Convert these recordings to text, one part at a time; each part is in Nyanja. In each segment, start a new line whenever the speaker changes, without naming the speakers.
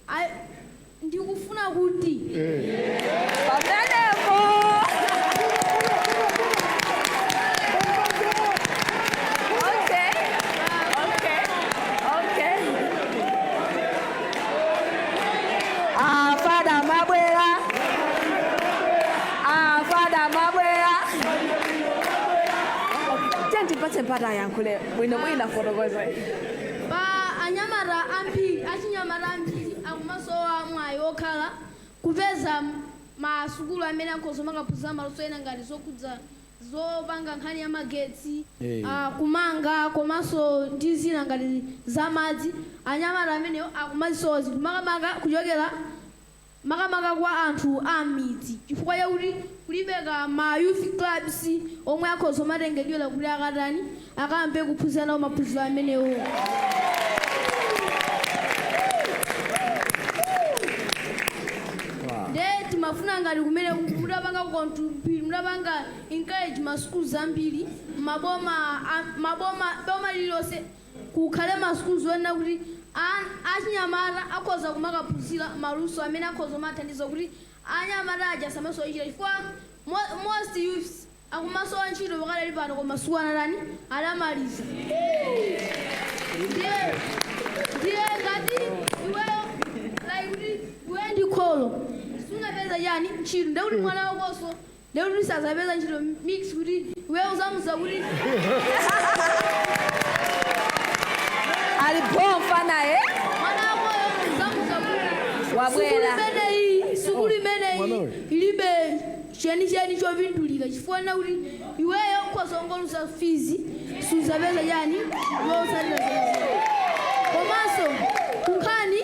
A- ndikufuna kuti
pamenepo okay okay okay afada mabwera afada mabwera tandipatseni mpata ayankhule bwino bwino afotokoze Pa
anyamata ambiri, achinyamata ambiri akumasowa mwayi wokhala, kupeza ma sukulu amene akhoza kumakaphunzira maluso ena ngati zokhudza zopanga nkhani ya magetsi, kumanga komanso ndi zina ngati za madzi. Anyamata amenewo akumazisowa zinthu makamaka kuchokera. makamaka kwa anthu a m'midzi chifukwa chakuti kulibeko ma youth clubs omwe akhoza kumatengedwera kuti akatani, akayambe kuphunzira nawo maphunziro amenewo. Nde timafuna ngati kumene ku- mutapanga kontu- mutapanga encourage ma schools ambiri maboma a- maboma boma lililonse Kukhale ma schools onena kuti an achinyamata akhoza kumakaphunzira ma luso amene akhoza kumathandiza kuti anyamata aja asamasowe ntchito chifukwa mo most youths akumasowa ntchito pakadali pano koma sukulu anatani anamaliza ndiye ndiye ngati iweyo like kuti iweyo ndi kholo sunapeze chani ntchito ndekuti mwana wakonso Ndiye kuti sazapeza ntchito means kuti iweyo uzamuza
kuti. Ali bho mfanaye. Mwana wakoyo
uzamuza kuti. Wabwera. Sukulu imeneyi,
sukulu
imeneyi ilibe chenicheni chopindulira chifukwa chonena kuti iweyo ukhoza kungoluza fizi suzapeza chani zotsatira komanso kunkhani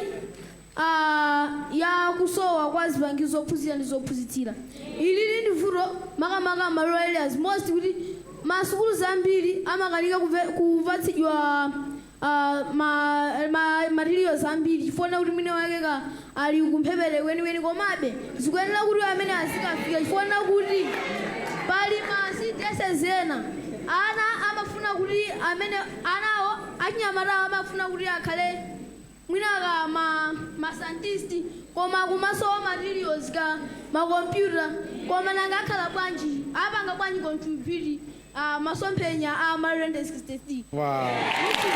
a ya kusowa kwa zipangizo zophunzira ndi zophunzitsira. Ilili ndi vuto makamaka ma rural areas most kuti ma sukulu zambiri amakanika kuve- kupatsidwa ah, ma, ma materials ambiri chifukwa chonena kuti mwinamwake ka ali kumphepete kwenikweni komabe zikuyenera kuti amene azikafika chifukwa chonena kuti pali ma CDSS ena ana amafuna kuti amene anawo achinyamatawo amafuna kuti akhale mwina ka ma ma scientist koma kumasowa materials ka ma computer koma nanga akhala bwanji apanga bwanji contribute ah, masomphenya a
Malawi 2063
Wow. which is